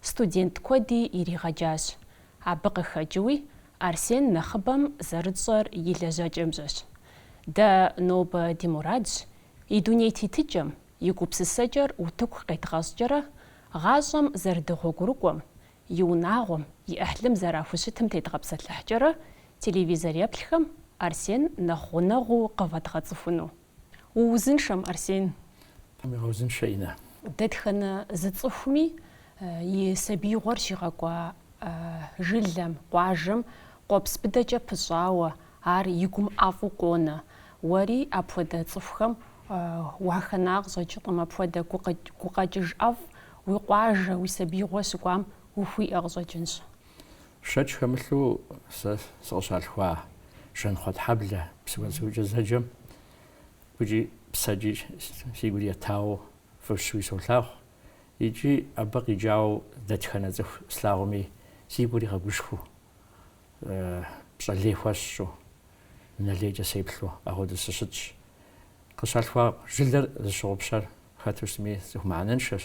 Студент куэди иригъэджащ. Абы къыхэкӏыуи, Арсен нэхъыбэм зэрытщӏэр и лэжьэкӏэмкӏэщ. Дэ нобэ ди мурадщ, и дуней тетыкӏэм, и гупсысэкӏэр утыку къедгъэщӏкӏэрэ, гъащӏэм зэрыдэгъуэгурыкӏуэм, и унагъуэм, и ӏыхьлым зэрахущытым тедгъэпсэлъыхькӏэрэ телевизор еплъхэм Арсен нэхъ гъунэгъуу къывэдгъэцӏыхуну. Уузыншэм, Арсен. Тхьэм уигъэузыншэ, Иннэ. Дэтхэнэ зы цӏыхуми и сабиигъуэр щигъэкӏуа жылэм, къуажэм къуэпс быдэкӏэ пыщӏауэ, ар и гум ӏэфӏу къонэ. Уэри апхуэдэ цӏыхухэм уахэна къыщӏэкӏынкъым, апхуэдэ гукъэкӏыж ӏэфӏ, уи къуажэ, уи сабиигъуэ щыкӏуам ухуиӏэ къыщӏэкӏынщ. Шэч хэмылъу сэ сыкъыщалъхуа Жанхъуэтхьэблэ Псыгуэнсукӏэ зэджэм гукӏи псэкӏи си гур етауэ фӏыщуи солъагъу, икӏи абы къикӏауэ дэтхэнэ цӏыху слъагъуми си гур игъэгушхуэу, пщӏэ лей хуэсщӏу, нэлейкӏэ сеплъу апхуэдэу сыщытщ. Къыщалъхуа жылэр зыщыгъупщэр хэту щытми цӏыху мыхьэнэншэщ.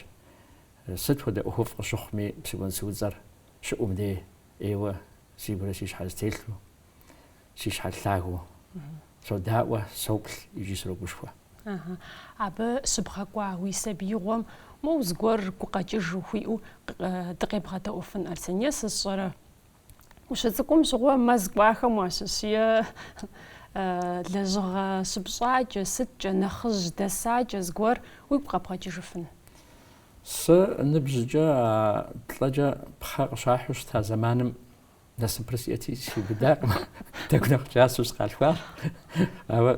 Сыт хуэдэ ӏуэхуфӏ къыщыхъуми Псыгуэнсу и цӏэр щыӏум де ӏейуэ си гурэ си щхьэрэ зэтелъу, си щхьэр лъагэу содаӏуэ, соплъ икӏи срогушхуэ. Ага. Абы щыбгъэкӏуа уи сабиигъуэм моу зыгуэр гукъэкӏыж ухуиӏэу дыкъебгъэдэӏуэфын, Арсен, е сысщӏэрэ? Ущыцӏыкӏум щыгъуэ мэз кӏуахэм уащыщ, е лэжьыгъэ щыпщӏакӏэ, сыткӏэ, нэхъыжь дэсакӏэ зыгуэр уигу къэбгъэкӏыжыфын? Сэ ныбжькӏэ а плӏэкӏэ пхъэ къыщахьу щыта зэманым насыпыр сиӏэти сиубыдакъым. Тӏэкӏу нэхъ кӏасэу сыкъалъхуащ. Ауэ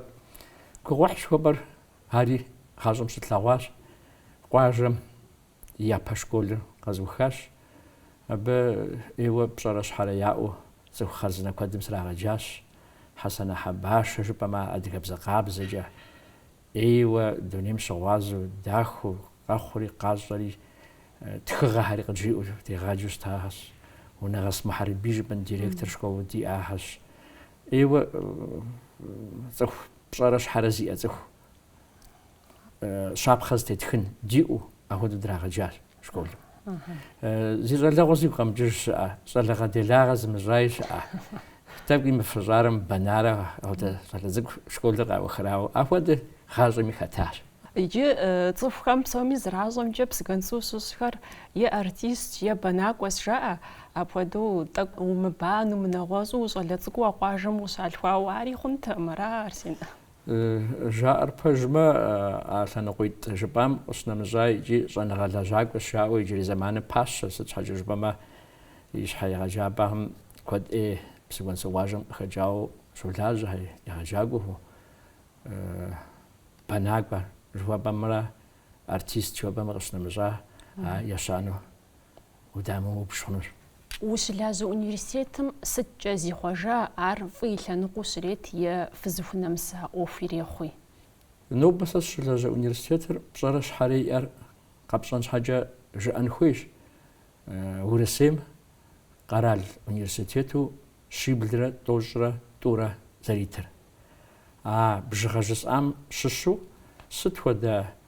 гугъуехь жыхуэпӏэр ари гъащӏэм щытлъэгъуащ. Къуажэм япэ школыр къэзухащ. Абы ӏейуэ пщӏэрэ щхьэрэ яӏэу цӏыху хъарзынэ куэдым срагъэджащ. Хьэсанэ Хьэбашэ жыпӏэмэ адыгэбзэ къабзэкӏэ. ӏейуэ дунейм щыгъуазэу, дахэу, къэхъури къащӏэри, тхыгъэхэри къыджиӏэу дегъаджэу щытахэщ. Унэгъэс Мухьэрбий жыпӏэм директор школу диӏахэщ. ӏейуэ цӏыху пщӏэрэ щхьэрэ зиӏэ цӏыху щапхъэ зытетхын диӏэу апхуэдэу драгъэджащ школым. Зи щӏалэгъуэ зигу къэмыкӏыж щыӏэ, щӏалэгъэ делагъэ зымыщӏаи щыӏэ. Тӏэкӏуи мыфыщӏарэ мыбэнарэ апхуэдэ щӏалэ цӏыкӏу школыр къаухрэ, ауэ апхуэдэ гъащӏэми хэтащ. Иджы цӏыхухэм псоми зэращӏэмкӏэ Псыгуэнсу щыщхэр е артист, е бэнакӏуэс жаӏэ. Апхуэдэу тӏэкӏу умыбану, мынэгъуэщӏу ущӏалэ цӏыкӏуу а къуажэм ущалъхуауэ ари хъунтэкъым, ара, Арсен? Жаӏэр пэжмэ, а лъэныкъуитӏ жыпӏам къыщынэмыщӏа икӏи щӏэныгъэ лэжьакӏуэ щаӏэу иджырей зэманым пащэ, сыт щхьэкӏэ жыпӏэмэ ищхьэ егъэджапӏэхэм куэд ӏей Псыгуэнсу къуажэм къыхэкӏауэ щолажьэ, егъэджакӏуэу, бэнакӏуэ жыхуэпӏэмрэ артист жыхуэпӏэмрэ къыщынэмыщӏа ещанэу удамыупщӏ хъунущ. Ущылажьэ университетым сыткӏэ зихъуэжа, ар фӏы и лъэныкъуэу щрет е фызыхунэмыса ӏуэху ирехъуи? Нобэ сэ сыщылажьэ университетыр пщӏэрэ щхьэрэ иӏэр къэпщӏэн щхьэкӏэ жыӏэн хуейщ, Урысейм къэрал университету щиблрэ тӏощӏрэ тӏурэ зэритыр. А бжыгъэ жысӏам щыщу сыт хуэдэ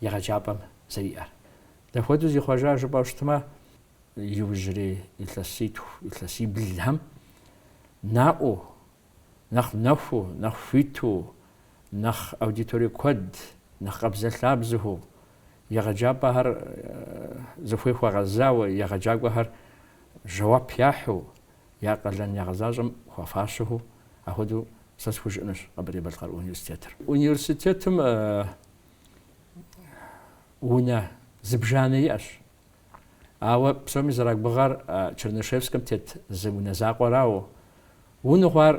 егъэджапӏэм зэриӏэр. Дахуэдэу зихъуэжа жыпӏэу щытмэ, иужьрей илъэситху, илъэсиблхэм наӏуэу, нэхъ нэхуу, нэхъ хуиту, нэхъ аудиторие куэд, нэхъ къабзэлъабзэу егъэджапӏэхэр зыхуей хуэгъэзауэ, егъэджакӏуэхэр жэуап яхьу, я къалэн ягъэзащӏэм хуэфащэу, ахуэдэу сэ схужыӏэнущ Къэбэрдей-Балъкъэр университетыр. Университетым унэ зыбжанэ иӏэщ. Ауэ псоми зэрагугъэр Чернышевскэм тет зы унэ закъуэрауэ. Уныгъуэ ар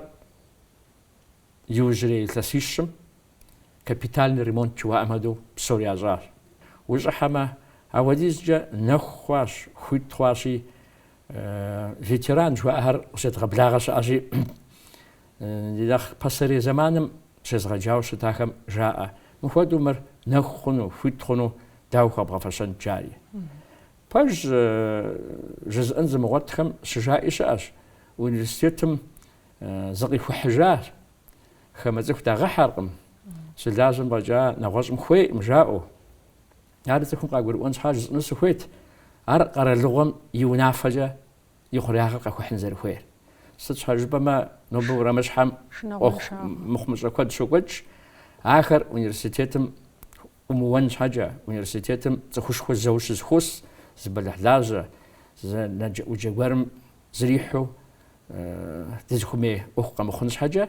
иужьрей илъэсищым капитальный ремонт жыхуаӏэм хуэдэу псори ящӏащ. Ущӏыхьэмэ, ахуэдизкӏэ нэху хъуащ, хуит хъуащи, ветеран жыхуаӏэхэр къыщедгъэблагъэ щыӏэщи, Ди нэхъ пасэрей зэманым щезгъэджауэ щытахэм жаӏэ, Мыхуэдэу мыр нэху хъуну, хуит хъуну, дауэ хуэбгъэфэщэнт жари? Пэж жызыӏэн зымыгъуэтхэм щыжаӏи щыӏэщ, университетым зыкъихухьыжа хамэ цӏыху дагъэхьэркъым, щылажьэм фӏэкӏа нэгъуэщӏым хуейкъым жаӏэу. Ар цӏыхум къагурыӏуэн щхьа жысӏэну сыхуейт, ар къэралыгъуэм и унафэкӏэ и хъуреягъыр къэхухьын зэрыхуейр. Сыт щхьэ жыпӏэмэ, нобэ урамыщхьэм ӏуэху мыхъумыщӏэ куэд щокӏуэкӏ, ахэр университетым ӏумыуэн щхьэкӏэ, университетым цӏыхушхуэ зэуэ щызэхуос, зы бэлыхьлажьэ, зы нэджэ-ӏуджэ гуэрым зрихьу дызыхумей ӏуэху къэмыхъун щхьэкӏэ,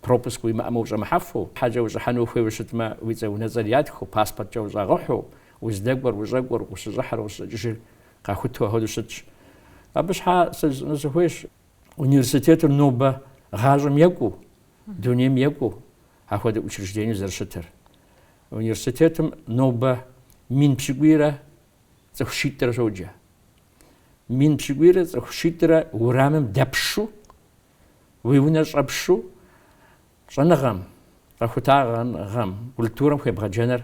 Пропуск уимыӏэмэ ущӏэмыхьэфу, хьэкӏэ ущӏыхьэну ухуейуэ щытмэ, уи цӏэ-унэцӏэр ятхыу, паспорткӏэ ущӏагъыхьу, уздэкӏуэр, ущӏэкӏуэр, ущыщӏыхьыр, ущӏэкӏыжыр къахуту ахуэдэу щытщ. Абы щхьа сэ жысӏэну сыхуейщ, университетыр нобэ гъащӏэм екӏуу, дунейм екӏуу ахуэдэ учреждениеу зэрыщытыр. Университетым нобэ мин пщыкӏуийрэ цӏыху щитӏрэ щоджэ. Мин пщыкӏуийрэ цӏыху щитӏрэ урамым дэпшу Уи унэ щӏэпшу щӏэныгъэм, къэхутагъэныгъэм, культурэм хуебгъэджэныр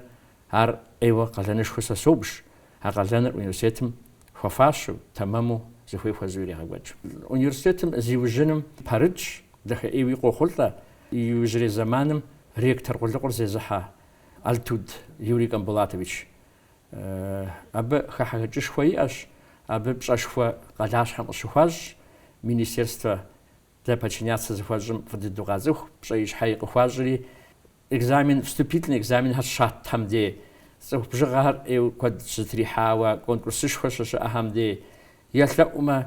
ар ӏейуэ къалэнышхуэ сэ собж, а къалэныр университетым хуэфащэу, тэмэму зыхуей хуэзэу ирегъэкӏуэкӏ. Университетым зиужьыным пэрытщ дахэӏейуи къохъулӏэ иужьрей зэманым ректор къулыкъур зезыхьэ Алтуд Юрий Камбулатович. Абы хыхьэхэкӏышхуэ иӏэщ, абы пщӏэшхуэ къалащхьэм къыщыхуащӏ министерствэ дэ подчиняться зыхуэтщӏым фӏыдыду къацӏыху, пщӏэи щхьэи къыхуащӏри, экзамен, вступительный экзаменхэр щатхэм дей, цӏыху бжыгъэхэр ӏейуэ куэд щызэтрихьауэ, конкурсышхуэ щыщыӏэхэм дей. Елъэӏумэ,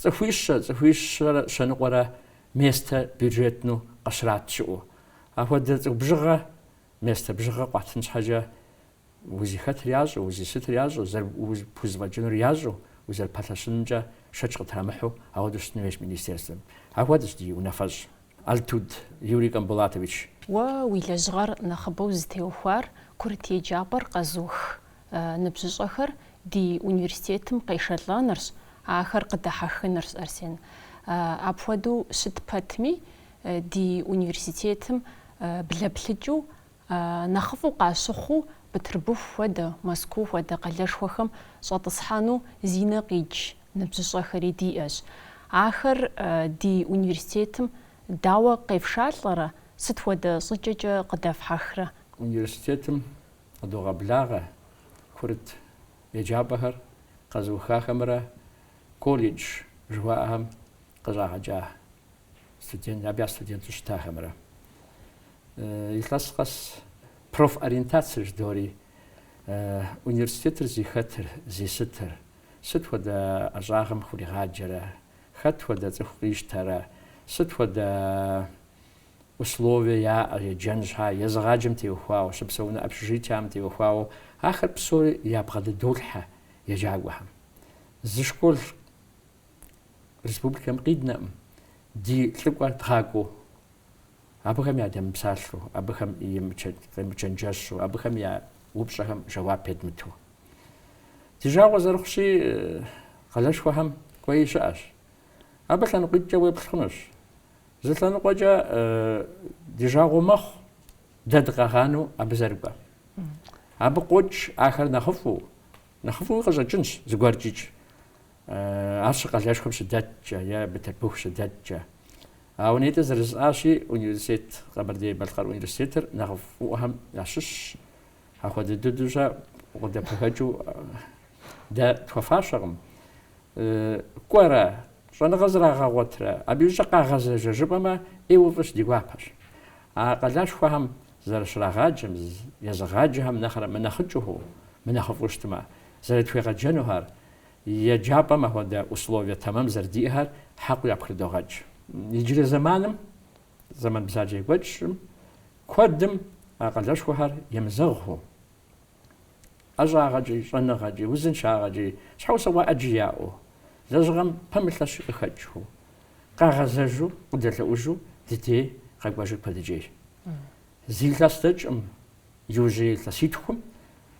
цӏыхуищэ, цӏыхуищэрэ щэныкъуэрэ местэ бюджетну къыщрат щыӏэу. Апхуэдэ цӏыху бжыгъэ местэ бжыгъэ къуатын щхьэкӏэ узыхэтыр ящӏэу, узыщытыр ящӏэу, зэрыпхузэфӏэкӏынур ящӏэу, узэрыпэлъэщынымкӏэ шэч къытрамыхьу, ахуэдэу щытын хуейщ Министерствэм. Ахуэдэщ ди унафэщӏ Алтуд Юрий Камбулатович. Уэ уи лэжьыгъэр нэхъыбэу зытеухуар курыт еджапӏэр къэзух ныбжьыщӏэхэр ди университетым къешэлӏэнырщ, ахэр къыдэхьэхынырщ, Арсен. Апхуэдэу щыт пэтми, ди университетым блэплъыкӏыу Нэхъыфӏу къащыхъуу, Бытырбыху хуэдэ, Мэзкуу хуэдэ къалэшхуэхэм щӏэтӏысхьэну зи нэ къикӏ ныбжьыщӏэхэри диӏэщ. Ахэр ди университетым дауэ къефшалӏэрэ, сыт хуэдэ щӏыкӏэкӏэ къыдэфхьэхрэ? Университетым къыдогъэблагъэ курыт еджапӏэхэр къэзыухахэмрэ колледж жыхуаӏэхэм къыщӏагъэкӏа студент, абы я студенту щытахэмрэ. Илъэс къэс профориентация жыдори университетыр зи хэтыр, зи сытыр, сыт хуэдэ ӏэщӏагъэм хуригъаджэрэ, хэт хуэдэ цӏыху къищтэрэ, сыт хуэдэ условие яӏэ еджэн щхьа, езыгъаджэм теухуауэ, щыпсэуну общежитиям теухуауэ, ахэр псори ябгъэдыдолъхьэ еджакӏуэхэм. Зы школ республикэм къиднэкъым, ди лӏыкӏуэ дгъакӏуэу, абыхэм ядемыпсалъэу, абыхэм емычэнджэщу, абыхэм я упщӏэхэм жэуап едмыту. Ди жагъуэ зэрыхъущи, къалэшхуэхэм кӏуэи щыӏэщ. Абы лъэныкъуитӏкӏэ уеплъ хъунущ. Зы лъэныкъуэкӏэ ди жагъуэ мэхъу дэ дыкъагъанэу абы зэрыкӏуэм. Абы къокӏ ахэр нэхъыфӏу, нэхъыфӏуи къыщӏэкӏынщ зыгуэркӏикӏ. Ар щы къалэшхуэм щыдэткӏэ е Бытырбыху щыдэткӏэ. Ауэ нтӏэ, зэрыжысӏащи, университет, Къэбэрдей-Балъкъэр университетыр нэхъыфӏыӏуэхэм ящыщщ. Апхуэдэ дыдущӏэ къыдэпэгэкӏыу дэ тхуэфащэкъым. Кӏуэрэ, щӏэныгъэ зрагъэгъуэтрэ, абы иужькӏэ къагъэзэжэ жыпӏэмэ, ӏейуэ фӏыщ ди гуапэщ. А къалэшхуэхэм зэрыщрагъаджэм, езыгъаджэхэм нэхърэ мынэхъыкӏыу, мынэхъыфӏу щытмэ, зэрытхуегъэджэнухэр, Еджапӏэм апхуэдэ условие тэмэм зэрыдиӏэхэр хьэкъыу япхрыдогъэкӏ. Иджырей зэманым, зэман бзаджэ екӏуэкӏым, куэдым а къалэшхуэхэр емызэгъыу, ӏэщӏагъэкӏи, щӏэныгъэкӏи, узыншагъэкӏи, щхьэусыгъуэ ӏэджи яӏэу, лэжьыгъэм пэмылъэщи къыхэкӏыу, къагъэзэжу, къыдэлъэӏужу ди дей къэкӏуэжыр куэдыкӏейщ. Зы илъэс дэкӏкъым, Иужьрей илъэситхум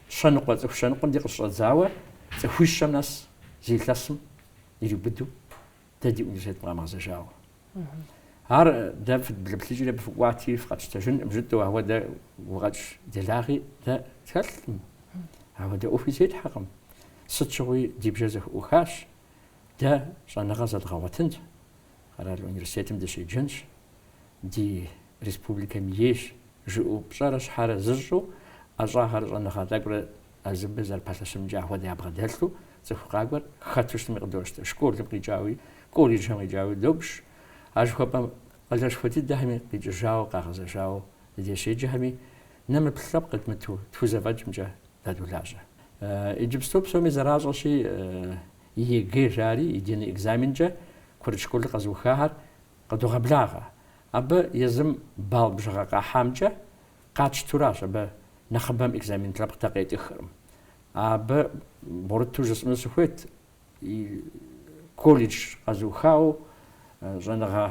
щэныкъуэ цӏыху щэныкъуэм дей къыщыщӏэдзауэ цӏыхуищэм нэс зы илъэсым ириубыду дэ ди университетым къамыгъэзэжауэ. Ар дэ фыдблэплъыкӏри абы фыкӏуати фыкъэтщтэжынкъым жытӏэу ахуэдэ гукъэкӏ делагъи дэ тхэлъкъым. Ахуэдэ ӏуэхуи зетхьэкъым. Сыт щыгъуи ди бжэр зэӏухащ. Дэ щӏэныгъэ зэдгъэгъуэтынт. Къэрал университетым дыщеджэнщ, ди республикэм ейщ, жыӏэу пщӏэрэ щхьэрэ зыщӏу, ӏэщӏагъэрэ щӏэныгъэ тӏэкӏурэ езы абы зэрыпэлъэщынымкӏэ ахуэдэ ябгъэдэлъу, цӏыху къакӏуэр хэту щытми къыдощтэ. Школым къикӏауи, колледжхэм къикӏауи добж. А жыхуэпӏэм къалэшхуэ дыдэхэми къикӏыжауэ, къагъэзэжауэ ди дей щеджэхэми нэмыплъ лъэпкъ едмыту тхузэфӏэкӏымкӏэ дадолажьэ. Иджыпсту псоми зэращӏэщи, ЕГЭ жари единый экзаменкӏэ курыт школыр къэзыухахэр къыдогъэблагъэ. Абы езым балл бжыгъэ къахьамкӏэ къэтщтэу аращ абы нэхъыбэм экзамен лъэпкъ дэ къетӏыхыркъым. Абы бгъурыту жысӏэну сыхуейт, и колледж къэзыухауэ щӏэныгъэ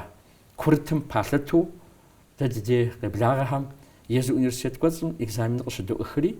курытым палъытэу дэ ди дей къеблагъэхэм езы университет кӏуэцӏым экзаменыр къыщыдоӏыхри,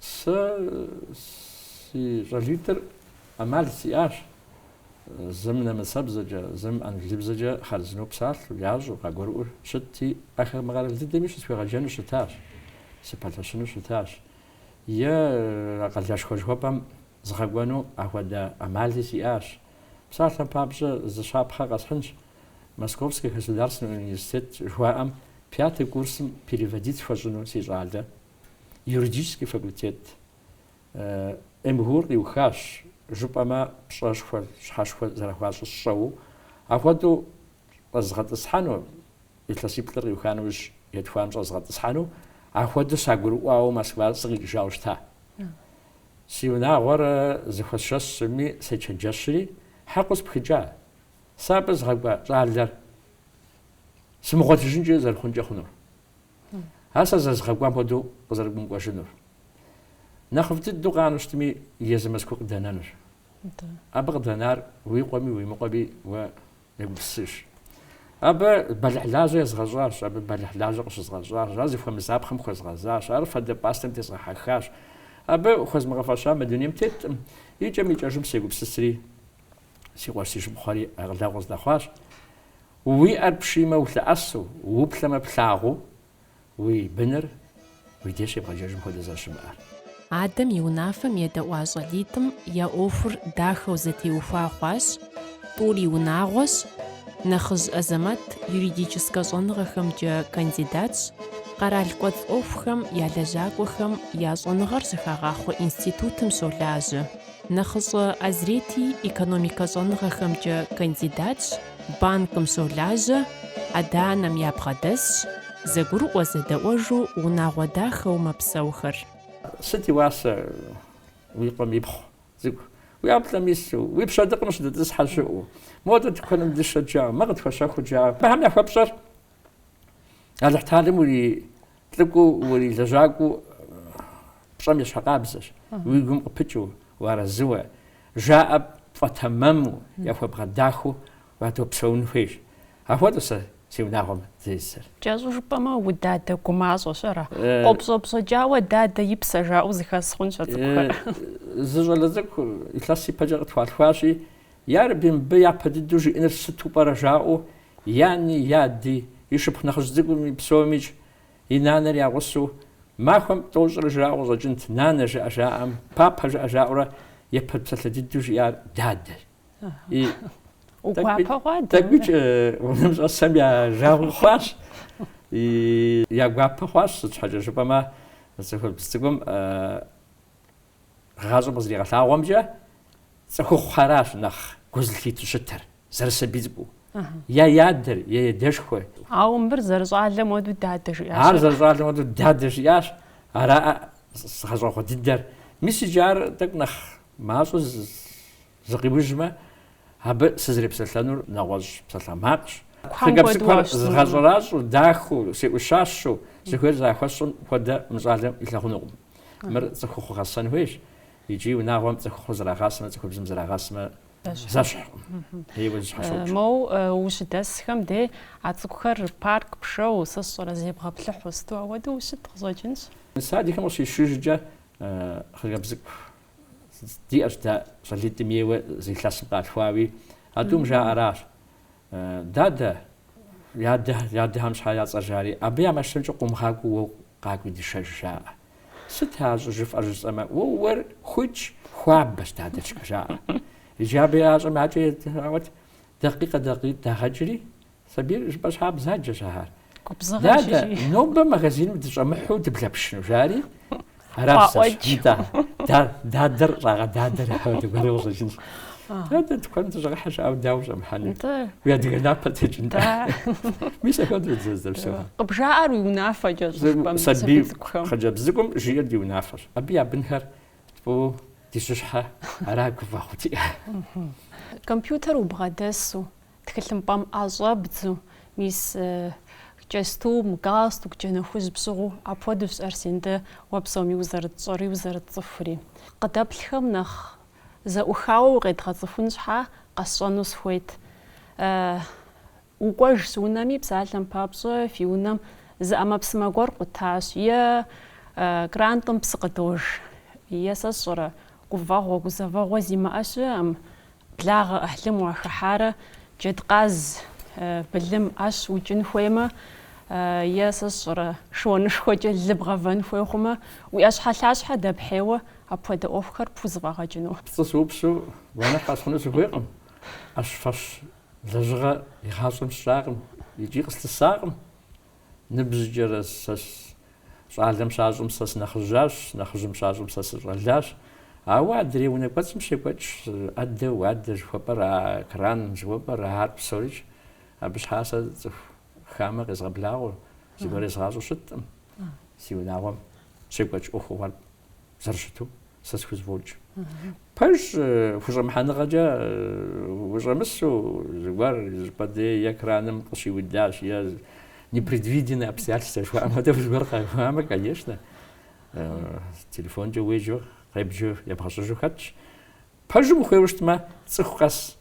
Сэ си щӏалитӏыр ӏэмал сиӏащ зым нэмыцэбзэкӏэ, зым англыбзэкӏэ хъарзынэу псалъэу, ящӏэу, къагурыӏуэу щытти, ахэр мы къэрал дыдэми щысхуегъэджэну щытащ, сыпэлъэщыну щытащ. Е а къалэшхуэ жыхуэпӏэм згъэкӏуэну ахуэдэ ӏэмали сиӏащ. Псалъэм папщӏэ, зы щапхъэ къэсхьынщ. Московский государственный университет жыхуаӏэм пятый курсым переводить хуэщӏыну си щӏалэ юридический факультет МГУ-р къиухащ, жыпӏэмэ пщӏэшхуэр, щхьэшхуэр зэрахуащӏыр сщӏэуэ. Апхуэдэу щӏэзгъэтӏысхьэну, илъэсиплӏыр къиуха нэужь етхуанэм щӏэзгъэтӏысхьэну, апхуэдэу сагурыӏуауэ Москва сыкъикӏыжауэ щыта. Си унагъуэр зэхуэсшэсми, сечэнджэщри, хьэкъыу спхыкӏа. Сэ абы згъэкӏуа щӏалэр сымыгъуэтыжынкӏэ зэрыхъункӏэ хъунур, ар сэ зэрызгъэкӏуам хуэдэу къызэрымыкӏуэжынур, нэхъыфӏ дыдэу къанэу щытми, езы Мэзкуу къыдэнэнур. Абы къыдэнар уи къуэми уи мыкъуэми уэ егупсысыж. Абы бэлыхьлажьэ езгъэщӏащ, абы бэлыхьлажьэ къыщызгъэщӏащ, ар зыхуэмызапхъэм хуэзгъэзащ, ар фадэ пӏастэм дезгъэхьэхащ. Абы хуэзмыгъэфэща мы дунейм теттым, икӏэм-икӏэжым сегупсысри, Си къуэш си шыпхъухэри акъылэгъу къыздэхъуащ. Уи ӏэр пшиймэ улъэӏэсу, уплъэмэ плъагъуу, уи быныр уи деж щебгъэджэжым хуэдэ зэрыщымыӏэр. Адэм и унафэм едэӏуа щӏалитӏым я ӏуэхур дахэу зэтеухуа хъуащ, тӏури унагъуэщ, нэхъыжь Азэмэт юридическэ щӏэныгъэхэмкӏэ кандидатщ, къэрал кӏуэцӏ ӏуэхухэм я лэжьакӏуэхэм я щӏэныгъэр щыхагъахъуэ институтым щолажьэ. Нэхъыщӏэ Азрети экономикэ щӏэныгъэхэмкӏэ кандидатщ, банкым щолажьэ, адэ-анэм ябгъэдэсщ, зэгурыӏуэ зэдэӏуэжу унагъуэ дахэу мэпсэухэр. Сыт и уасэ уи къуэм ипхъу цӏыкӏу? Уи ӏэплӏэм ису, уи пщэдыкъым щыдэтӏысхьэ щыӏэу, модэ тыкуэным дышэ жаӏэ, мыр къытхуэщэху жаӏэ, абыхэм яхуэпщӏэр Алыхьталэм ури Лӏыкӏуэу урилэжьакӏуэу пщӏэм ещхьыркъабзэщ, уи гум къыпыкӏыу, уарэзыуэ, жаӏэр пфӏэтэмэму, яхуэбгъэдахэу уадэпсэун хуейщ. Ахуэдэу сэ си унагъуэм сызэрисыр. Кӏэщӏу жыпӏэмэ, удадэ гумащӏэщ, ара? Къопщӏэпщӏэкӏауэ дадэ и псэ жаӏэу зэхэс хъунщ а цӏыкӏухэр. Зы щӏалэ цӏыкӏу илъэс ипэкӏэ къытхуалъхуащи, Ярэби, мыбы япэ дыдэу жиӏэныр сыту пӏэрэ жаӏэу, яни, яди, и шыпхъу нэхъыжь цӏыкӏуми, псомикӏ, и нанэр я гъусэу, махуэм тӏощӏрэ жраӏэу къыщӏэкӏынт, нанэ жыӏэ жаӏэм, папэ жыӏэ жаӏэурэ япэ псалъэ дыдэу жиӏар дадэр. Гуапэ хъуа? Тӏэкӏуикӏ унэм щӏэсхэм я жагъуэ хъуащ, я гуапэ хъуащ, сыт щхьэкӏэ жыпӏэмэ, цӏыхубз цӏыкӏум, Гъащӏэм къызэригъэлъагъуэмкӏэ, цӏыхухъухэращ нэхъ гу зылъитэу щытыр, зэрысабий цӏыкӏуу, я адэр, я адэшхуэр. Ауэ мыбыр зэрыщӏалэм хуэдэу дадэ жиӏащ. Ар зэрыщӏалэм хуэдэу дадэ жиӏащ, ара згъэщӏэгъуэ дыдэр. Мис иджы ар тӏэкӏу нэхъ мащӏэ Зыкъиужьмэ, абы сызрепсэлъэнур нэгъуэщӏ псалъэмакъщ. Хъыджэбз цӏыкӏухэр згъэщӏэращӏэу, дахэу, сеӏущащэу, зыхуейр зэрахуэсщӏым хуэдэ мы щӏалэм илъагъунукъым. Мыр цӏыхухъу гъэсэн хуейщ, икӏи унагъуэм цӏыхухъу зэрагъасэмэ, цӏыхубзым зэрагъасэмэ зэщхькъым. Еуэ зэщхьэщокӏ. Моу ущыдэсхэм де а цӏыкӏухэр парк пшэуэ, сэ сщӏэрэ зебгъэплъыхьу сыту ауэдэу ущыт къыщӏэкӏынщ. Садикхэм къыщисшыжкӏэ хъыджэбз цӏыкӏу Диӏэщ дэ щӏалитӏым еуэ зы илъэсым къалъхуауи, а тӏум жаӏэращ, Дадэ, ядэхэм щхьэ яцӏэ жари, абы я машинэмкӏэ къумыгъакӏуэу уэ къакӏуи дышэж, жаӏэ. Сыт а щӏыжыфӏэр жысӏэмэ, уэ ууейр хужь, хуабэщ, дадэ, жаӏэ. Иджы абы ящӏэм я кӏэр етӏрагъуэт, дакъикъэ-дакъикъитӏ дагъэкӏри, Сабийр жыпӏэ щхьа бзаджэщ ахэр. Дадэ, нобэ магазиным дыщӏэмыхьу дыблэпшыну, жари? Аращ дадэр щӏагъэдадэр ахэр гуэру къыщӏэкӏынщ. Дадэ тыкуэн дыщӏэгъэхьэ жиӏэу дауэ щӏэмыхьэну? Уи адыгэ напэ текӏын. Мис ахэр дызэрыпсэу. Къыбжаӏэр уи унафэкӏэ щӏыпӏэм сабий цӏыкӏухэм. Хъыджэбз цӏыкӏум жиӏэр ди унафэщ. Абы я бынхэр тпӏыу ди щыщхьэ ара гуфӏэгъуэти. Компьютер убгъэдэсу. Тхылъымпӏэм ӏэ щӏэбдзу, мис, кӏэстум, галстук, джэнэ хужь пщыгъыу, апхуэдэущ Арсен дэ уэ псоми узэрытщӏэри узэрытцӏыхури. Къыдэплъхэм нэхъ зэӏухауэ укъедгъэцӏыхун щхьа, къэсщӏэну сыхуейт. Укӏуэжащ унэми, псалъэм папщӏэ, фи унэм зы ӏэмэпсымэ гуэр къутащ, е крантым псы къыдож, е сэ сщӏэрэ, гуфӏэгъуэ, гузэвэгъуэ зимыӏэ щыӏэм, Благъэ ӏыхьлым уахыхьарэ джэдкъаз былым ӏэщ укӏын хуеймэ е, сэ сщӏэрэ, шыуанышхуэкӏэ лы бгъэвэн хуей хъумэ, уи ӏэщхьэлъащхьэ дэпхьейуэ апхуэдэ ӏуэхухэр пхузэфӏэгъэкӏыну? Пцӏы сыупсу гуэныхь къэсхьыну сыхуейкъым. ӏэщ фэщ лэжьыгъэ игъащӏэм сщӏакъым икӏи къыслъысакъым. Ныбжьыкӏэрэ сэ щӏалэм щащӏым сэ сынэхъыжьащ, нэхъыжьым щащӏым сэ сыщӏэлащ. Ауэ адрей унэ кӏуэцӏым щекӏуэкӏ ӏэдэ, уадэ жыхуэпӏэр, а кран жыхуэпӏэр, ахэр псорикӏ. Абы щхьа сэ цӏыху хамэ къезгъэблагъэу, зыгуэр езгъащӏэу щыткъым си унагъуэм щекӏуэкӏ ӏуэхугъуэр. зэрыщыту сэ схузэфӏокӏ. Пэжщ, хущӏэмыхьэныгъэкӏэ ущӏэмысу зыгуэр щӏыпӏэ дей экраным къыщиудащ е непредвиденные обстоятельства жыхуаӏэм хуэдэу зыгуэр къэхъуамэ, конечно, телефонкӏэ уеджэу, къебджэу, ебгъэщӏыжу хэтщ. Пэжым ухуеуэ щытмэ, цӏыху къэс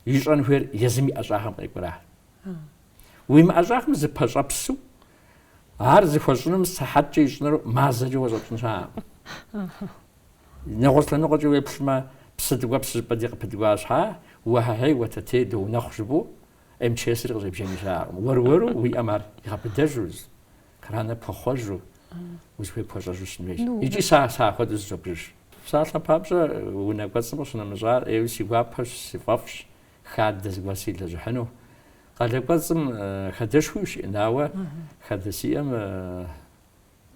ищӏэн хуейр езым и ӏэщӏагъэм къекӏуращ. Уи мыӏэщӏагъэм зыпэщӏэпсу ар зыхуэщӏынум сыхьэткӏэ ищӏыныр мазэкӏэ уэ щӏэпщӏын щыӏэкъым. Нэгъуэщӏ лъэныкъуэкӏэ уеплъмэ, псы ткӏуэпс жыпӏэнти къыпыткӏуа щхьа, уэхьэхьей, уэтэтей, доунэхъу жыпӏэу МЧС-ри къыщӏебджэни щыӏэкъым. Уэр-уэру уи ӏэм ар игъэбыдэжу, краныр пхуэхъуэжу, узыхуей пхуэщӏэжу щытын хуейщ. Икӏи сэ сыапхуэдэу зызобжыж. Псалъэм папщӏэ, унэ кӏуэцӏым къыщынэмыщӏар ӏейуэ си гуапэщ, си фӏэфӏщ, хадэ зыгуэр силэжьыхьыну. Къалэ кӏуэцӏым хадэшхуи ущиӏэн, ауэ хадэ сиӏэм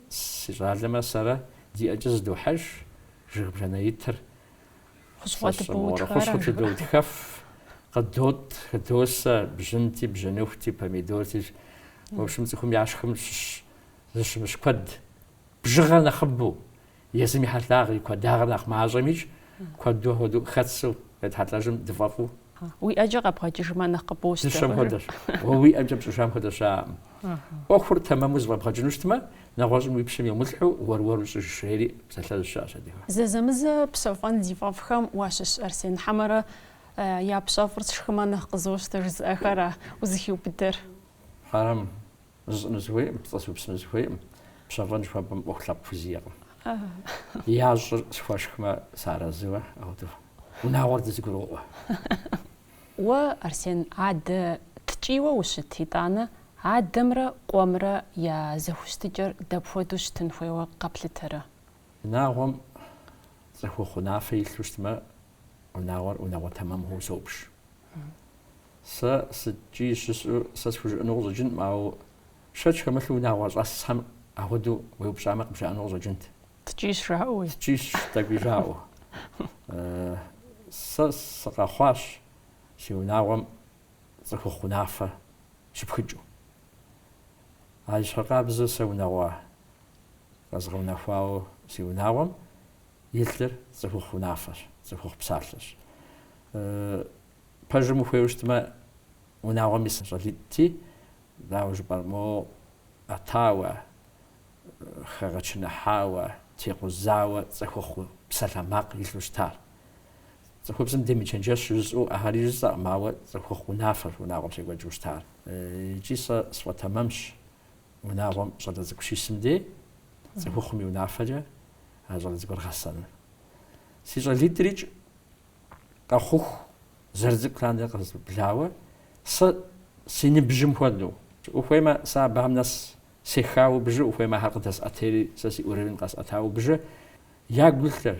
си щӏалэмэ сэрэ ди ӏэкӏэ зыдохьэж жыг бжанэ итыр. Хущхъуэ тыдоутхэф, къыдотӏ, хыдосэ бжьынти, бжьыныхути, помидорти. В общем, цӏыхум яшхым щыщ зыщымыщ куэд. Бжыгъэр нэхъыбэу. Езым и хьэлъагъри куэдагъыр нэхъ мащӏэмикӏ, куэду апхуэдэу хэтсу къетхьэлӏэжым дыфӏэфӏу. Уи ӏэкӏэ къэбгъэкӏыжмэ нэхъ къыбощтэ. Дыщэм хуэдэщ. Уэ уи ӏэмкӏэ пщӏыжам хуэдэ щыӏэкъым. ӏуэхур тэмэму зыфӏэбгъэкӏыну щытмэ, нэгъуэщӏым уи пщэм емылъхьу уэр-уэру щӏыж, жери псалъэжь щыӏэщ адыгэм. Зэзэмызэ пщэфӏэн зи фӏэфӏхэм уащыщ Арсен хьэмэрэ япщэфӏыр сшхымэ нэхъ къызощтэ жызыӏэхэра узыхиубыдэр? Хьэрэм зысщӏыну сыхуейкъым, пцӏы сыупсыну сыхуейкъым, пщэфӏэн жыхуэпӏэм ӏуэху лъэпкъ хузиӏэкъым. Ящӏыр схуэшхмэ, сыарэзыуэ, ауэдэу унагъуэр дызыгурыӏуэ. Уэ, Арсен, адэ ткӏийуэ ущыт, итӏанэ адэмрэ къуэмрэ я зэхущытыкӏэр дапхуэдэу щытын хуейуэ къэплъытэрэ? Унагъуэм цӏыхухъу унафэ илъу щытмэ, Унагъуэр унагъуэ тэмэм хъууэ собж. Сэ сыткӏий жысӏэу сэ схужыӏэну къыщӏэкӏынкъым, ауэ шэч хэмылъу унагъуэ щӏэсхэм ахуэдэу уеупщӏамэ къыбжаӏэну къыщӏэкӏынт. Ткӏийщ жаӏэуи. Ткӏийщ тӏэкӏуи жаӏэу. Сэ сыкъэхъуащ си унагъуэм цӏыхухъу унафэ щыпхыкӏыу. Абы ещхьыркъабзэу сэ унагъуэ къэзгъэунэхуауэ си унагъуэм илъыр цӏыхухъу унафэщ, цӏыхухъу псалъэщ. Пэжым ухуейуэ щытмэ, унагъуэм ис щӏалитӏти, дауэ жыпӏэр, мо ӏэтауэ, хэгъэчыныхьауэ, текъузауэ цӏыхухъу псалъэ макъ илъу щытар. Цӏыхубзым демычэнджэщ жысӏэу ахэри жысӏэкъым, ауэ цӏыхухъу унафэщ унагъуэм щекӏуэкӏыу щытар. Икӏи сэ сфӏэтэмэмщ, унагъуэм щӏалэ цӏыкӏу щисым дей, цӏыхухъум и унафэкӏэ а щӏалэ цӏыкӏур гъэсэну. Си щӏалитӏрикӏ къэхъуху зэрыцӏыкӏу лъандэрэ къызэзыблауэ, сэ си ныбжьым хуэдэу. Ухуеймэ, сэ абыхэм нэс сехауэ бжы, ухуеймэ, ахэр къыдэсӏэтейри, сэ си уровень къэсӏэтауэ бжы. Ягу илъыр,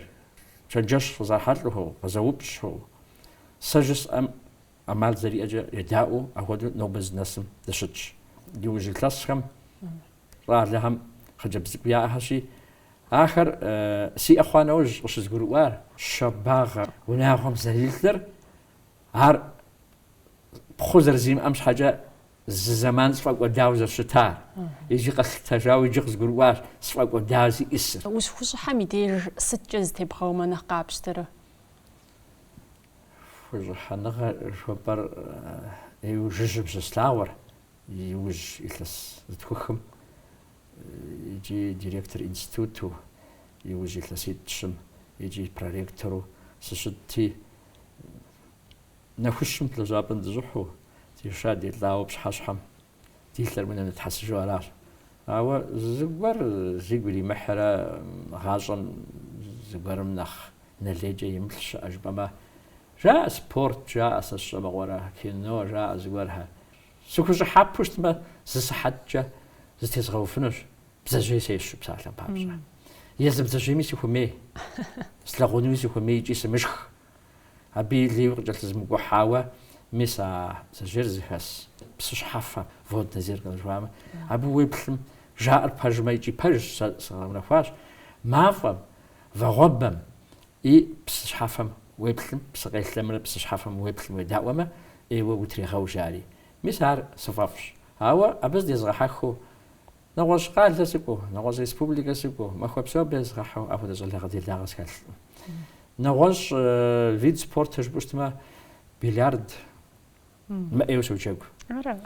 чэнджэщ къызэрыхьэлӏэхэу, къызэупщӏхэу, сэ жысӏэм ӏэмал зэриӏэкӏэ едаӏуэу, апхуэдэу нобэ зынэсым дыщытщ. Иужь илъэсхэм Щӏалэхэм хъыджэбз цӏыкӏу яӏэхэщи, ахэр сиӏэ хъуа нэужь къыщызгурыӏуар, щабагъэр унагъуэм зэрилъыр, ар пхъу зэрызримыӏэм щхьэкӏэ зы зэман сфӏэкӏуэдауэ зэрыщытар, иджы къэслъытэжауэ иджы къызгурыӏуащ сфӏэкӏуэдауэ зиӏысыр. Ущыхущӏыхьэм и деж сыткӏэ зытебгъэумэ нэхъ къапщтэрэ? Хущӏыхьэныгъэ жыхуэпӏэр иужьыжьым щыслъэгъуар. Иужь илъэс зытхухым икӏи директор институту, иужь илъэситӏщым икӏи проректору сыщытти, нэхущым лэжьапӏэм дыщӏыхьу, деша-делӏауэ пщыхьэщхьэм ди лъэр унэм нэтхьэсыжу аращ. Ауэ зыгуэр зигу иримыхьрэ гъащӏэм зыгуэрым нэхъ нэ лейкӏэ емыплъ щыӏэ жыпӏэмэ, жаӏэ спорт жаӏэ сэ сщӏэмыгъуэрэ, кино жаӏэ зыгуэрхэр. Сыхущӏыхьэпэу щытмэ, зы сыхьэткӏэ зытезгъэуфынущ, бдзэжьей сещу псалъэм папщӏэ. Езы бдзэжьейми сыхуэмей, слъагъунуми сыхуэмей икӏи сымышх. Абы и лейуи къыкӏэлъызмыкӏухьауэ, мис а бдзэжьейр зыхэс псы щхьэфэ, водное зеркало жыхуаӏэмэ, абы уеплъым, жаӏэр пэжмэ икӏи пэжщ, сэ згъэунэхуащ, мафӏэм, вагъуэбэм, И псы щхьэфэм уеплъым, псыкъелъэмрэ псы щхьэфэм уеплъым уедаӏуэмэ, ӏейуэ утрегъэу жари. Мис ар сыфӏэфӏщ. Ауэ абы зыдезгъэхьэхыу нэгъуэщӏ къалэ сыкӏуэу, нэгъуэщӏ республикэ сыкӏуэу, махуэ псо абы езгъэхьу ахуэдэ щӏалэгъэ делагъэ схэлъкъым. Нэгъуэщӏ вид спортыр жыпӏэу щытмэ, бильярд, мыӏейуэ соджэгу. Ара?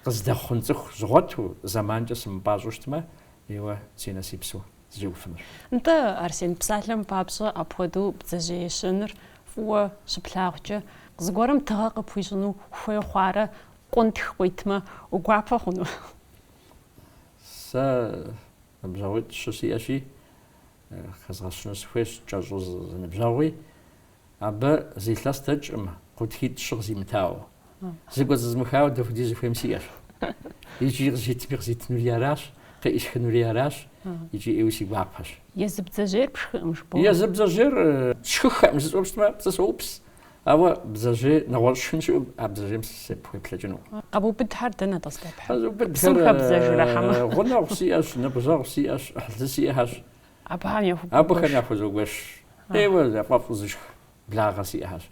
Къыздэхъун цӏыху згъуэту, зэманкӏэ сымыпӏащӏэу щытмэ, еуэ си нэ си псэу зэ сеуэфынущ. Нтӏэ, Арсен, псалъэм папщӏэ апхуэдэу бдзэжьей ещэныр фӏыуэ щыплъагъукӏэ, зыгуэрым тыгъэ къыпхуищӏыну хуей хъуарэ къунтх къуитмэ, угуапэ хъуну? Сэ ныбжьэгъуитӏ-щы сиӏэщи, хэзгъэщыну сыхуейщ, кӏэщӏу зы ныбжьэгъуи, Абы зы илъэс дэкӏкъым, къунтхитӏ-щы къызимытауэ. Зэкӏуэцӏызмыхауэ дапхуэдиз ухуейми сиӏэщ. Икӏи къызитми къызитынури аращ, къыӏисхынури аращ, икӏи ӏейуи си гуапэщ. Езы бдзэжьейр пшхыӏым, жыпӏэу. Езы бдзэжьейр сшхыххэӏым жысӏэу щытмэ, пцӏы соупс. Ауэ бдзэжьей нэгъуэщӏ шхын щыӏэу, а бдзэжьейм сыпхуеплъэкӏынукъым. Къэбубыдхэр дэнэ тӏэ здэпхьыр? Къэзубыдхэр гъунэгъу сиӏэщ, ныбжьэгъу сиӏэщ, ӏыхьлы сиӏэщ, Абыхэм яхуэбгъэгуэш. Абыхэм яхузогуэш. ӏейуэ яфӏэфӏу зышх благъэ сиӏэщ.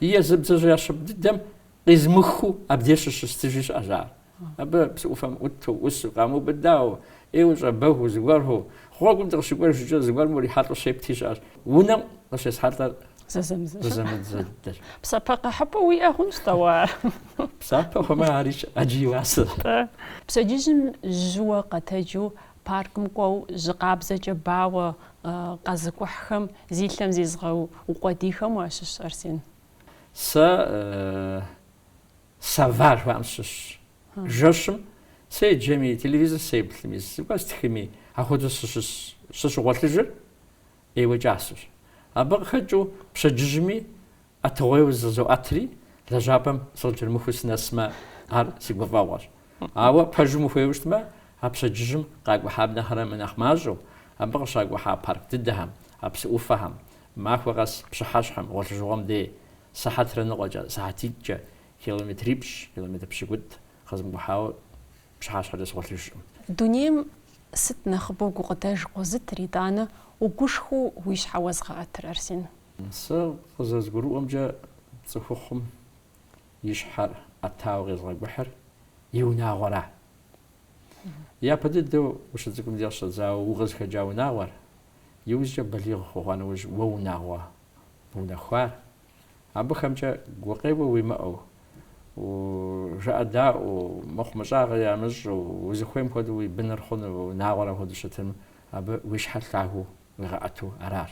Е езы бдзэжьеящапӏэ дыдэм къизмыхыу абдеж щыщыстыжи щыӏэщ ар. Абы псы ӏуфэм ӏуту, ӏусу, къамыубыдауэ, ӏейуэ щӏэбэгу зыгуэру, гъуэгум дыкъыщыкӏуэжкӏэ, зыгуэрым урихьэлӏэу щепти щыӏэщ. Унэм къыщесхьэлӏэр зэзэмызэщ. Псапэ къэхьыпӏэу уиӏэ хъунщ дауэ ар? Псапэ хъумэ, ари ӏэджэ и уасэщ. Пщэдджыжьым жьыуэ къэтэджу Паркым кӏуэу жьы къабзэкӏэ бауэ къэзыкӏухьхэм зи лъэм зезыгъэукъуэдийхэм уащыщ, Арсен? Сэ сова жыхуаӏэм сыщыщщ. Жэщым седжэми, телевизор сеплъми, зыгуэр стхыми, апхуэдэу сыщыс, сыщыгъуэлъыжыр ӏейуэ кӏасэщ. Абы къыхэкӏыу пщэдджыжьми ӏэтыгъуейуэ зызоӏэтри, лэжьапӏэм сыкъыкӏэрымыхуу сынэсмэ, ар си гуфӏэгъуэщ. Ауэ пэжым ухуейуэ щытмэ, а пщэдджыжьым къакӏухьам нэхърэ мынэхъ мащӏэу, абы къыщакӏухьа парк дыдэхэм, а псы ӏуфэхэм, махуэ къэс пщыхьэщхьэм, гъуэлъыжыгъуэм дей, сыхьэтрэ ныкъуэкӏэ, сыхьэтитӏкӏэ, километрипщӏ, километр пщыкӏутӏ къызымыкӏухьауэ пщыхьэщхьэкӏэ сыгъуэлъыжкъым. Дунейм сыт нэхъыбэу гукъыдэж къозытыр, итӏанэ угушхуэу уи щхьэ уэзгъэӏэтыр, Арсен? Сэ къызэзгурыӏуэмкӏэ, цӏыхухъум и щхьэр ӏэтауэ къезыгъэкӏухьыр и унагъуэра. Япэ дыдэу ущыцӏыкӏум дегъу щӏэдзауэ укъызыхэкӏа унагъуэр, иужькӏэ балигъ ухъуа нэужь уэ унагъуэ бунэхуар, абыхэмкӏэ гукъеуэ уимыӏэу, жыӏэдаӏуэу, мыхъумыщӏагъэ ямыщӏу, узыхуейм хуэдэу уи быныр хъуну унагъуэр апхуэдэу щытым, абы уи щхьэр лъагэу уигъэӏэту аращ.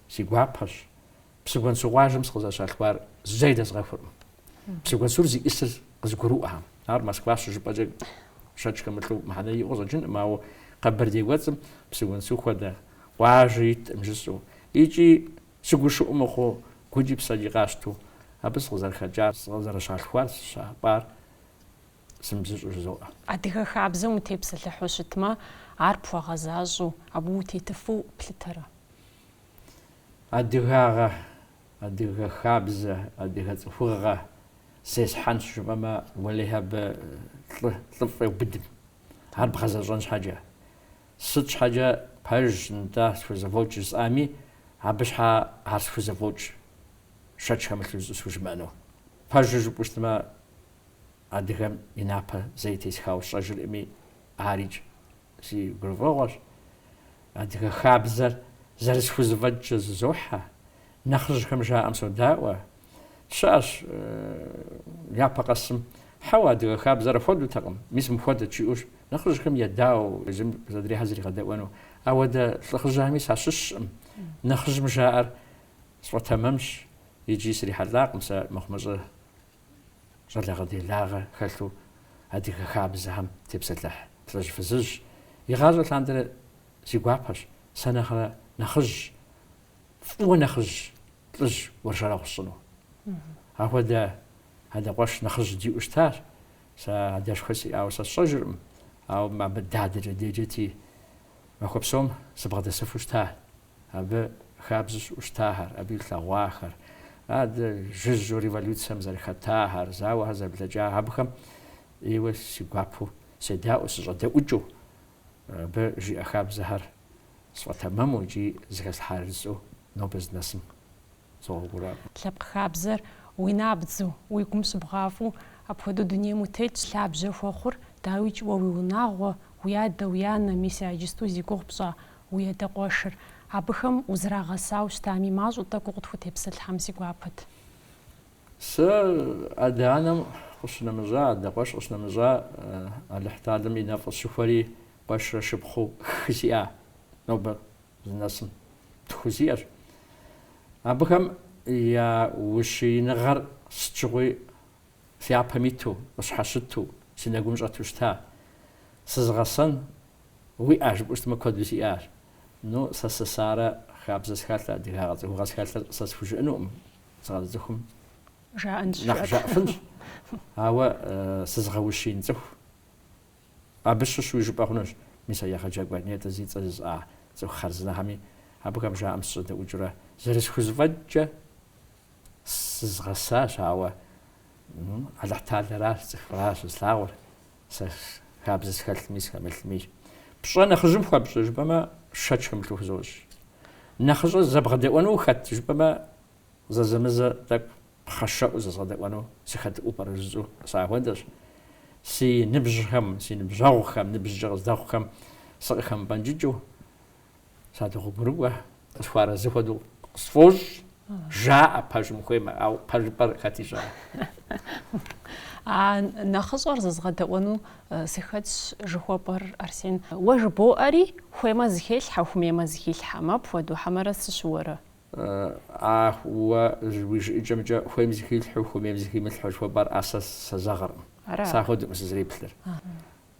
Си гуапэщ. Псыгуэнсу къуажэм сыкъызэрыщалъхуар зэи дэзгъэхуркъым. Псыгуэнсур зищӏысыр къызгурыӏуэхэм. Ар Москва щыжыпӏэкӏэ шэч хэмылъу мыхьэнэ иӏэу къыщӏэкӏынкъым, ауэ Къэбэрдей кӏуэцӏым Псыгуэнсу хуэдэ къуажэ иткъым жысӏэу икӏи сыгушыӏу мыхъуу гукӏи псэкӏи къасщтэу абы сыкъызэрыхэкӏар, сыкъызэрыщалъхуар, сыщапӏар Сымыбзыщӏу жызоӏэ. Адыгэ хабзэм утепсэлъыхьу щытмэ, ар пхуэгъэзащӏэу, абы утетыфу плъытэрэ? Адыгагъэ, адыгэ хабзэ, адыгэ цӏыхугъэ зесхьэнщ жыпӏэмэ, уэлэхьи абы лӏы, лӏыфӏ еубыдым. Ар бгъэзэщӏэн щхьэкӏэ. Сыт щхьэкӏэ пэжщ нтӏэ схузэфӏокӏ жысӏами, абы щхьэ ар схузэфӏокӏ, шэч хэмылъу щӏысхужымыӏэну. Пэжыр жыпӏэу щытмэ, адыгэм и напэ зэи тесхауэ сщӏэжыркъыми, арикӏ си гурыфӏыгъуэщ. Адыгэ хабзэр зэрысхузэфӏэкӏкӏэ зызохьэ, нэхъыжьхэм жаӏэм содаӏуэ. Щыӏэщ япэ къэсым, хьэуэ, адыгэ хабзэр апхуэдэутэкъым, мис мыпхуэдэт жиӏэущ, нэхъыжьхэм едауэу езым къызэдрехьэр зригъэдэӏуэну. Ахуэдэ лӏыхъужьхэми сащыщкъым, нэхъыжьым жаӏэр сфӏэтэмэмщ икӏи срихьэлӏакъым сэ мыхъумыщӏэ щӏалэгъэделагъэ хэлъу адыгэ хабзэхэм тепсэлъыхь лӏыжь-фызыжь. Игъащӏэ лъандэрэ си гуапэщ, сэ нэхърэ нэхъыжь, фӏыуэ нэхъыжь лӏыжь уэршэрэгъу сщӏыну. Ахуэдэ адэ къуэш нэхъыжь диӏэу щытащ, сэ адэшхуэ сиӏауэ сэ сщӏэжыркъым, ауэ абы дадэкӏэ деджэти, махуэ псом сыбгъэдэсыфу щытащ. Абы хабзэу щыӏэу щытахэр, абы илъэгъуахэр, адэ жыжьэу революцием зэрыхэтахэр, зауэхэр зэрыблэкӏахэр, абыхэм ӏейуэ си гуапэу седаӏуэу, сыщӏэдэӏукӏыу, абы жиӏэ хабзэхэр сфӏэтэмэму икӏи зыхэслъхьар сщӏэу нобэ здынэсым Лъэпкъ хабзэр уи набдзу, уи гум щыбгъафӏэу апхуэдэу дунейм утетщ, лъабжьэ хуэхъур, дауикӏ, уэ уи унагъуэ, уи адэ, уи анэ, мис иджысту зи гугъу пщӏа уи адэ къуэшыр. Абыхэм узэрагъэсауэ щытами, мащӏэу тӏэкӏу укъытхутепсэлъыхьэм си гуапэт. Сэ адэ-анэм къыщынэмыщӏа, адэ къуэш къыщынэмыщӏа, Алыхьталэм и нэфӏ къысщыхуэри къуэшрэ шыпхъуу хы сиӏа. Нобэ здынэсым тху сиӏэщ. Абыхэм я ущииныгъэр сыт щыгъуи си япэм иту, къысщхьэщыту, си нэгум щӏэту щыта. Сызыгъэсэн уиӏа жыпӏэу щытмэ, куэду сиӏащ. Ну, сэ сесарэ, хабзэ схэлърэ, адыгагъэ цӏыхугъэ схэлърэ сэ схужыӏэнукъым, сыкъэзыцӏыхум нэхъ жаӏэфынщ. Ауэ сызыгъэущиин цӏыху Абы щыщуи жыпӏэ хъунущ, мис а егъэджакӏуэ нетӏэ зи цӏэ жысӏа цӏыху хъарзынэхэми абыхэм жаӏэм сыщӏэдэӏукӏыурэ, зэрысхузэфӏэкӏкӏэ зызгъэсащ, ауэ Алыхьталэращ, цӏыхуращ зылъагъур, сэ хабзэ схэлъми схэмылъми. Пщӏэ нэхъыжьым хуэпщӏрэ жыпӏэмэ, шэч хэмылъу хузощӏ. Нэхъыщӏэ зэбгъэдэӏуэну ухэт жыпӏэмэ, Зэзэмызэ тӏэкӏу пхъэшэӏуэу зэзгъэдэӏуэну сыхэтыӏуэу пӏэрэ жысӏэу сахуэдэщ. Си ныбжьхэм, си ныбжьэгъухэм, ныбжькӏэ къыздэхъухэм сыкъыхэмыпӏэнкӏыкӏыу, садогъуэгурыкӏуэ, къысхуэарэзы хуэдэу къысфӏощӏ, жаӏэ пэжым хуеймэ, ауэ пэжыпӏэр хэт ищӏа? А нэхъыщӏэр зэзгъэдэӏуэну сыхэтщ жыхуэпӏэр, Арсен. Уэ жыбоӏэри, хуеймэ зыхелъхьэ, хуэмеймэ зыхилъхьэкъым. Апхуэдэу хьэмэрэ сыщыуэрэ? Ах, уэ уи жыӏэкӏэмкӏэ хуейм зыхилъхьэу, хуэмейм зыхимылъхьэу жыхуэпӏэр ар сэ сезэгъыркъым. Сэ ахуэдэкъым сызэреплъыр.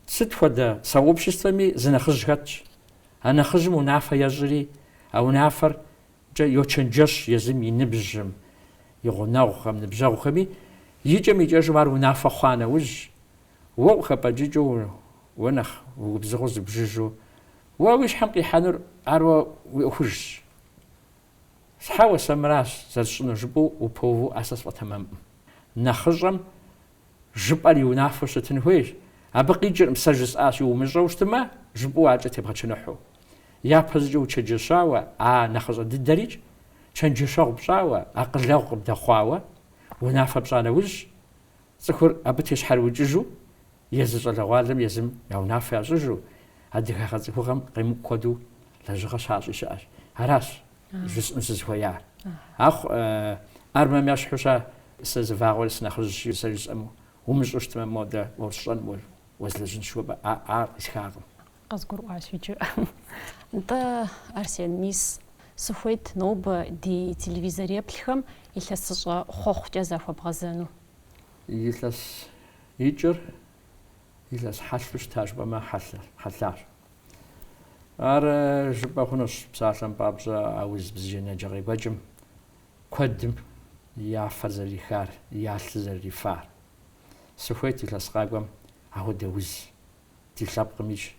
Сыт хуэдэ сообществэми зы нэхъыжь хэтщ. А нэхъыжьым унафэ ещӏри, а унафэркӏэ йочэнджэщ езым и ныбжьым, и гъунэгъухэм, ныбжьэгъухэми. Икӏэм-икӏэжым ар унафэ хъуа нэужь, уэ къыхэпӏэкӏыкӏыу, уэ нэхъ угубзыгъэу зыбжыжу, уэ уи щхьэм къихьэнур ар уэ уи ӏуэхужщ. Щхьэуэ сэ мыращ зэрысщӏынур жыпӏэу упэуву сэ сфӏэтэмэмӏым. Нэхъыщӏэм жыпӏэр и унафэу щытын хуейщ. Абы къикӏыркъым, сэ жысӏащи, умыщӏэу щытымэ, жыпӏэу аркӏэ тебгъэчыныхьу. Япэщӏыкӏэ учэджэщауэ, а нэхъыщӏэ дыдэрикӏ, чэнджэщэгъу пщӏауэ, акъылэгъу къыбдэхъуауэ, унафэ пщӏа нэужьщ, Цӏыхур абы тещхьэрыукӏыжу, езы щӏалэгъуалэм езым я унафэ ящӏыжу, адыгагъэ, цӏыхугъэм къемыкӏу куэду лэжьыгъэ щащӏи щыӏэщ. Аращ жысӏэну сызыхуеяр. Ахъу, армэм ещхьу ща сэ зы вагъуэри сынэхъыжьщи, сэ жысӏэму, умыщӏу щытмэ, модэ уэсщӏэн, уэ, уэзлэжьынщ жыхуэпӏэ, а, ар къисхакъым. Къызгурыӏуащ иджы. Нтӏэ, Арсен, мис сыхуейт нобэ ди телевизореплъхэм илъэсыщӏэ хъуэхъукӏэ захуэбгъэзэну. Илъэс икӏыр илъэс хьэлъэу щыта жыпӏэмэ хьэлъащ. Ар жыпӏэ хъунущ псалъэм папщӏэ а уз бзаджэнаджэ къекӏуэкӏым куэдым я фэр зэрырихар, я лъыр зэрырифар. Сыхуейт илъэс къакӏуэм ахуэдэ уз Ди лъэпкъымикӏ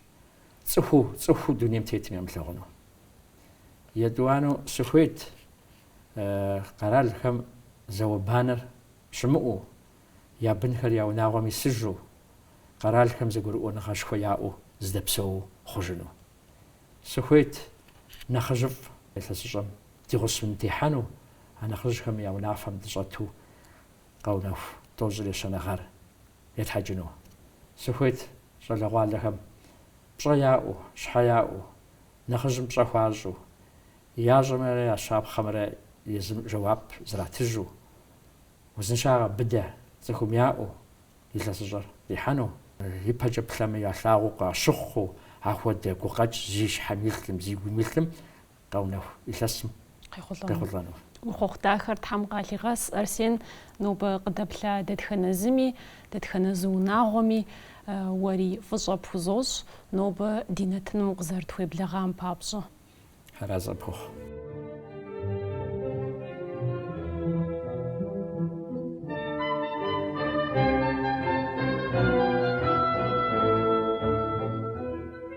цӏыхуу, цӏыхуу дунейм тетым ямылъагъуну. Етӏуанэу сыхуейт къэралхэм зауэ-банэр щымыӏэу, я бынхэр я унагъуэм исыжу, къэралхэм зэгурыӏуэныгъэшхуэ яӏэу здэпсэуу хъужыну. Сыхуейт нэхъыжьыфӏ илъэсыщӏэм ди гъусэу техьэну, а нэхъыжьхэм я унафэм дыщӏэту къэунэху тӏощӏрэ ещанэ гъэр етхьэкӏыну. Сыхуейт щӏалэгъуалэхэм пщӏэ яӏэу, щхьэ яӏэу, нэхъыжьым пщӏэ хуащӏу, ящӏэмрэ я щапхъэмрэ езым жэуап зратыжу, узыншагъэ быдэ цӏыхум яӏэу илъэсыщӏэр къихьэну. Ипэкӏэ плъэмэ ялъагъуу къащыхъуу ахуэдэ гукъэкӏ зи щхьэм илъым, зи гум илъым къэунэху илъэсым къехъулӏэну. Уи хъуэхъу дахэр Тхьэм къалъигъэс, Арсен, нобэ къыдэплъа дэтхэнэ зыми, дэтхэнэ зы унагъуэми уэри фӏыщӏэ пхузощӏ, нобэ ди нэтыным укъызэрытхуеблэгъам папщӏэ. Тхьэразэ пхухъу.